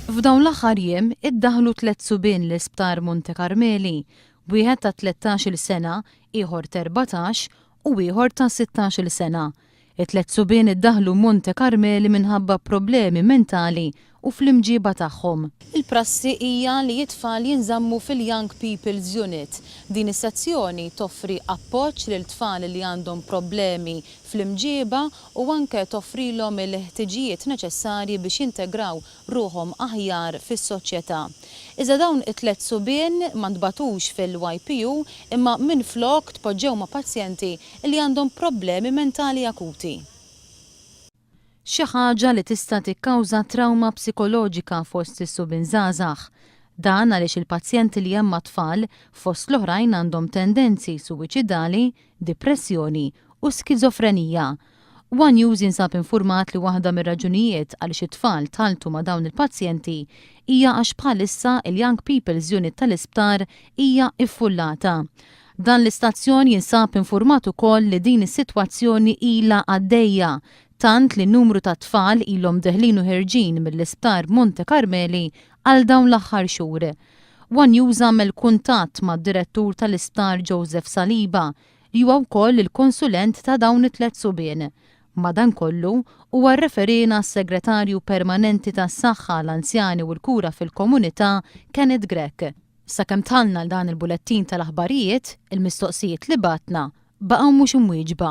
F'dawn l-aħħar jiem iddaħħlu tliet subien l-Isptar Monte Karmeli, wieħed ta' tlettax-il sena, ieħor t'erbatax u ieħor ta' sittax-il sena. It-tliet subien iddaħħlu Monte Karmeli minħabba problemi mentali u fl-imġieba tagħhom. Il-prassi hija li t-tfal jinżammu fil-Young People's Unit. Din is-sezzjoni toffri appoġġ lil tfal li għandhom problemi fl-imġieba u anke toffrilhom il-ħtiġijiet neċessarji biex jintegraw ruħhom aħjar fis-soċjetà. Iżda dawn it-tliet subien ma ntbagħtux fil-YPU imma minflok tpoġġew ma' pazjenti li għandhom problemi mentali akuti. Xi ħaġa li tista' tikkawża trawma psikoloġika fost is-subien żgħażagħ. Dan għaliex il-pazjenti li hemm mat-tfal, fost l-oħrajn għandhom tendenzi suwiċidali, dipressjoni u skiżofrenija. One News jinsab infurmat li waħda mir-raġunijiet għaliex it-tfal tħalltu ma' dawn il-pazjenti hija għax bħalissa il-Young People's Unit tal-isptar hija ffullata. Dan l-istazzjon jinsab infurmat ukoll li din is-sitwazzjoni ilha għaddejja tant li numru ta' tfal ilhom deħlin u ħerġin mill-isptar Monte Karmeli Għal dawn l-aħħar xhur, one News għamel kuntatt mad-direttur tal-isptar Joseph Saliba, li huwa wkoll il-konsulent ta' dawn it-tliet subien. Madankollu, huwa rreferiena għas-Segretarju Permanenti tas-Saħħa, l-Anzjani u l-Kura fil-Komunità, Kenneth Grech. Sakemm dħalna għal dan il-bulettin tal-aħbarijiet, il-mistoqsijiet li bgħatna baqgħu mhux imwieġba.